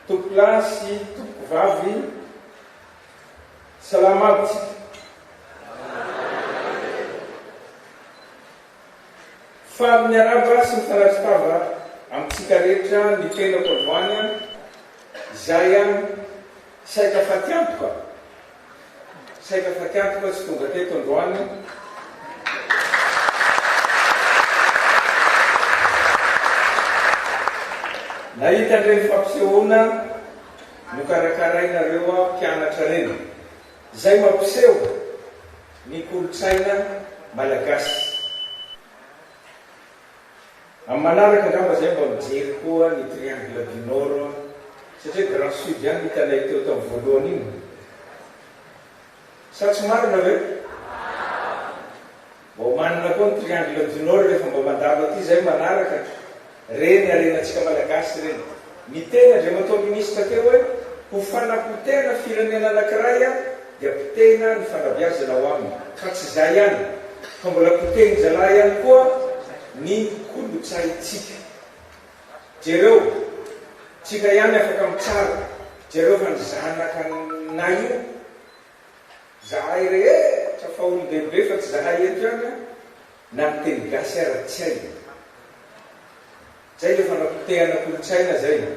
Tompolahy sy tompovavy salama aby tsika. Faly miarahaba sy mifanatri tava amintsika rehetra ny tenako androany an! Izay an! Saika fatiantoka Saika fatiantoka tsy tonga teto androany nahita an'ireny fampisehoana nokarakarainareo mpianatra ireny, izay mampiseho ny kolontsaina malagasy. Amin'ny manaraka angamba zahay mba mijery koa ny triangle du nord satria grand sud ihany no hitanay teo tamin'ny voalohany iny. Sa tsy marina ve? Mba omanina koa ny triangle du nord rehefa mba mandalo aty zahay manaraka. Reny harenantsika malagasy reny. Niteny Andriamatoa Minisitra teo hoe ho fanapotehana firenena anankiray dia potehina ny fanabeazana ao aminy, fa tsy izay ihany fa mbola potehin-jalahy ihany koa ny kolontsaintsika. Jereo, tsika ihany afaka mitsara, jereo fa ny zanakanay io, zahay rehetra fa olon-dehibe fa tsy zahay eto ihany na miteny gasy ara tsy hay. Zay le fanapotehana kolotsaina zay e!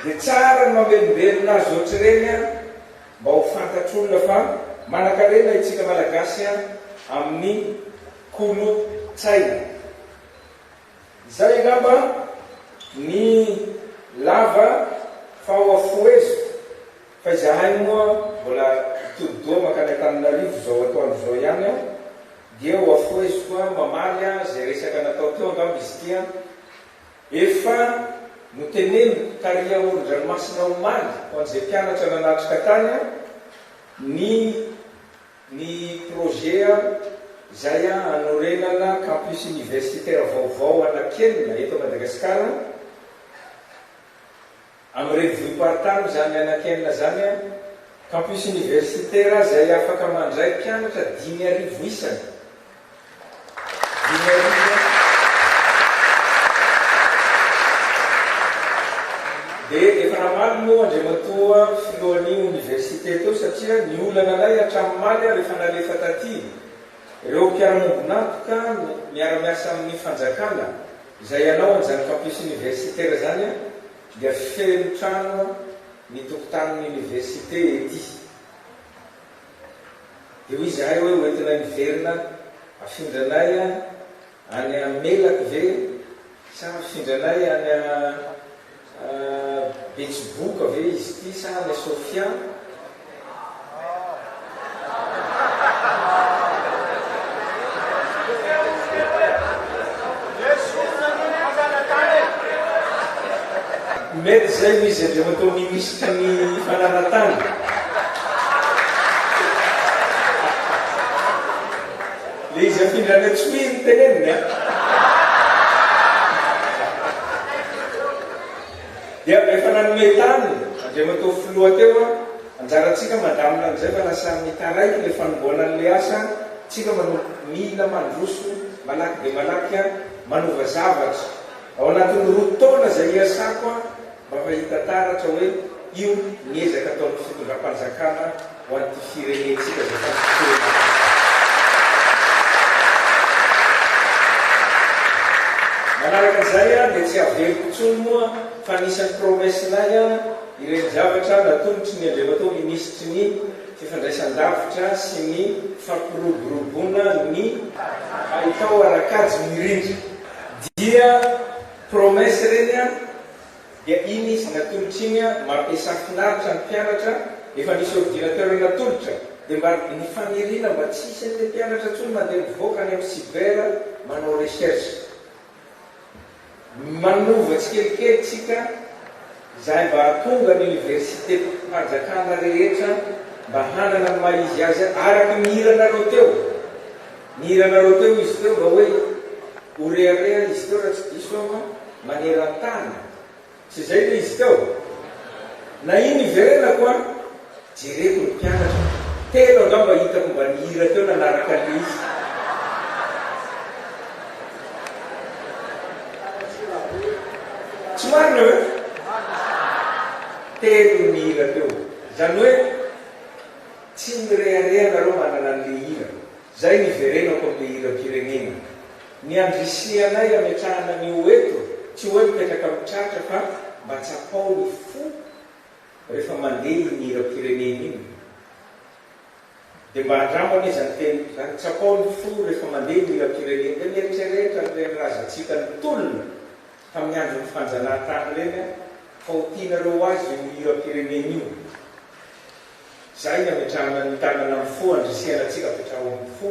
De tsara ny mamelombelona azy ohatr'ireny an! Mba ho fantatr'olona fa manankarena itsika Malagasy an amin'ny kolotsaina. Zay angamba ny lava faoafoeziko Fa izahay moa mbola hitodi-doha mankany Antananarivo izao atoandro izao ihany aho, dia hoafoheziko aho mamaly aho izay resaka natao teo angamba izy ity an! Efa noteneniko tary amoron-dranomasina omaly ho an'izay mpianatra nanatrika tany aho ny ny projet izay hanorenana campus universitaire vaovao anankienina eto Madagasikara, Am revue par time zany anakianina zany an, campus universitaire zay afaka mandray mpianatra dimy arivo isany, dimy arivo an, de efa namaly moa Andriamatoa filohany université teo satria ny olana anay hatram maly ary efa nalefa taty reo mpiara mombon'antoka miara miasa aminy fanjakana, Izay hanao an'izany campus universitaire izany an, dia feno trano ny tokotanin'ny université ety. Dia hoy izahay hoe hoentina miverina afindra anay any Melaky ve sa afindra anay any. Betsiboka ve izy ity sa any Sofia? Mety izay no izy avy eo atao minisitra ny fananan-tany. Le izy afindra any an-tsohihy no teneniny an! Dia efa nanome tany Andriamatoa Filoha teo an! Anjarantsika mandamina an'izay fa lasa mitaraiky le fanomboana an'le asa an! Tsika manompo mila mandroso malaky dia malaky an! Manova zavatra! Ao anatin'ny roa taona izay iasako an! mba mahita taratra hoe io ny ezaka ataon'ny fitondram-panjakana ho an'ity firenentsika izay tampon-tsolon'ady ity. Manaraka izay aho dia tsy haveriko intsony moa fa anisan'ny promesse-nay ireny zavatra natolotry ny Andriamatoa Minisitry ny Fifandraisan-davitra sy ny Fampiroboroboana ny Haitao ara-kajy mirindra dia. Promesse ireny an! Dia iny izy natolotra iny an! Mampiasà finaritra ny mpianatra, efa nisy ordinateur natolotra, dia mba ny faniriana mba tsy hisy an'ilay mpianatra intsony mandeha mivoaka any amin'ny cyber manao recherche. Manova tsikelikely tsika izahay mba hahatonga ny universitem-panjakana rehetra mba hanana ny maha izy azy araka ny hiranareo teo. Nihira anareo teo izy teo mba hoe ho rehareha izy teo raha tsy diso aho an, maneran-tany. Tsy izay ve izy teo? Na iny iverenako an, jereko ny mpianatra, telo angamba hitako mba nihira teo nanaraka an'ilay izy. Tsy marina ve? Telo ny nihira teo. Izany hoe. Tsy mirehareha nareo manana anle hira Zay niverenako amle hirampirenena Ny andrisihanay ametrahana anio eto Tsy oe mipetraka am tratra fa mba tsapao ny fo Refa mande iny hirampirenena iny De mba andramo anie zany teniko zany Tsapao ny fo refa mande ny hirampirenena De mieritrerehitra anreny razantsika nitolona Tamin'ny andron'ny fanjanahatany reny aho Fa ho tianareo ho azy io hirampirenena io Izay ny ametrahana ny tanana amin'ny fo andrisihana antsika apetraho amin'ny fo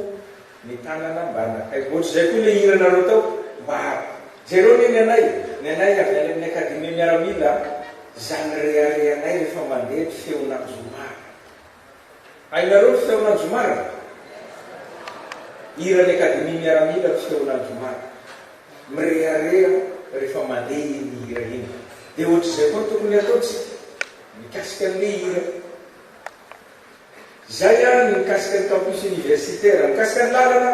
ny tanana mba anakaiky ohatr'izay koa ilay hiranareo tao mba jereo anie ny anay ny anay avy any amin'ny academie miaramila izany reharehanay rehefa mandeha ny feon'anjomara hainareo ny feon'anjomara ve? hiran'ny academie miaramila ny feon'anjomara mirehareha rehefa mandeha iny hira iny dia ohatr'izay koa ny tokony hataontsika Mikasika ny le hira. Izay ary ny mikasika ny campus universitaire. Mikasika ny lalana,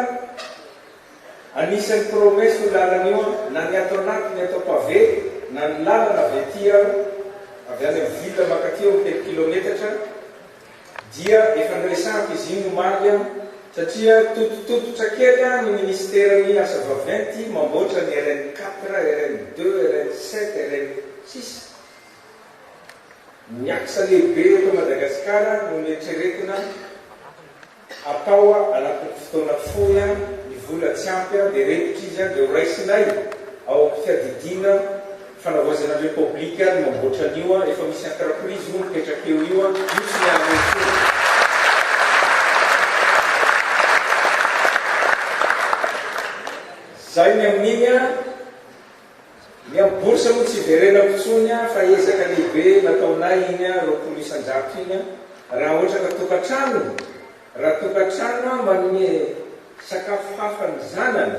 anisan'ny promesse io lalana io an, na ny ato anatiny atao pavé, na ny lalana avy aty an, avy any amin'ny ville mankaty eo amin'ny telo kilometatra, dia efa niresahako izy iny omaly an, satria tototototra kely an ny ministeran'ny asa vaventy mamboatra ny RN quatre, RN deux, RN sept, RN six. Ny axe lehibe eto Madagasikara no neritreretina hatao anatin'ny fotoana fohy ny vola tsy ampy dia repotra izy dia ho raisinay ao amin'ny fiadidiana fanavaozana ny repoblika ny mamboatra an'io efa misy entreprise moa mipetraka eo io io tsy miala eo intsony. Zay ny amin'iny an. Ny amin'ny bourse moa tsy hiverenako intsony an, fa ezaka lehibe nataonay iny an, roapolo isan-jato iny an, raha ohatra ka tokantrano, raha tokantrano an manome sakafo hafa ny zanany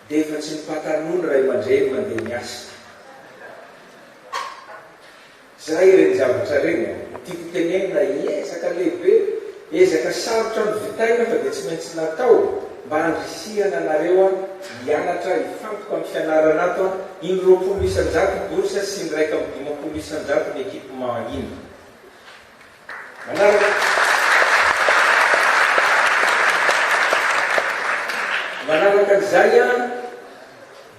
dia efa tsy ny pataloha ny ray aman-dreny mandeha miasa. Zay ireny zavatra ireny a! Tiako tenenina ezaka lehibe, ezaka sarotra novitaina fa dia tsy maintsy natao mba handrisihana anareo a hianatra hifantoka amin'ny fianarana ato a! Iny roapolo isan-jato bourse sy iny iraika amby dimampolo isan-jato ny equipement iny. Manaraka. Manaraka an'izay a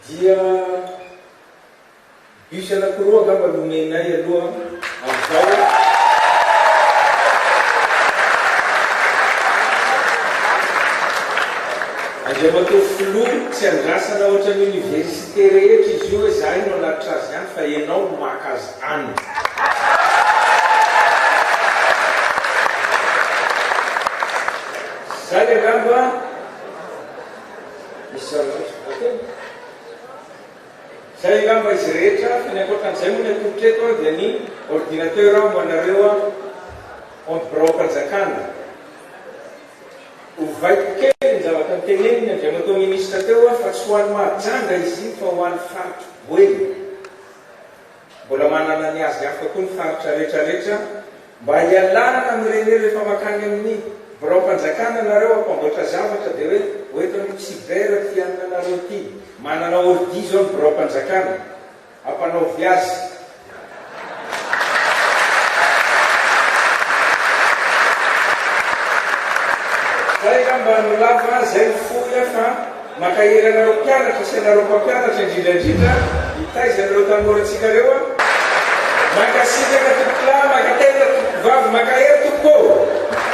dia. Bus anakiroa angamba no omenay aloha amin'izao e. Andriamatoa Filoha, tsy andrasana ohatran'ny Université rehetra izy io hoe zahay no hanatitra azy any fa ianao no maka azy any. Zay angamba. Misy zavatra hafa koa? Zay angamba izy rehetra fa ny ankoatran'izay moa ny atolotra eto an dia ny ordinateur aho ho anareo an an biraom-panjakana. Ovaiko kely ny zavatra notenenin'ny Andriamatoa Ministra teo an fa tsy ho an'i Mahajanga izy iny fa ho an'ny faritra Boeny. Mbola manana ny azy hafa koa ny faritra rehetra rehetra mba hialana amin'ireny hoe rehefa makany amin'ny biraom-panjakana nareo hampanboatra zavatra dia hoe hoentin'ny cyber ity hanina nareo ity. Manana ordi izao ny biraom-panjakana. Ampanaovy azy. Zay angamba no lava, zay no fohy fa. Mankahery anareo mpianatra sy anareo mpampianatra indrindra indrindra mitaiza an'ireo tanorantsika ireo aho. Mankasitraka tompokolahy, mankatelina tompokovavy, mankahery tompoko ô!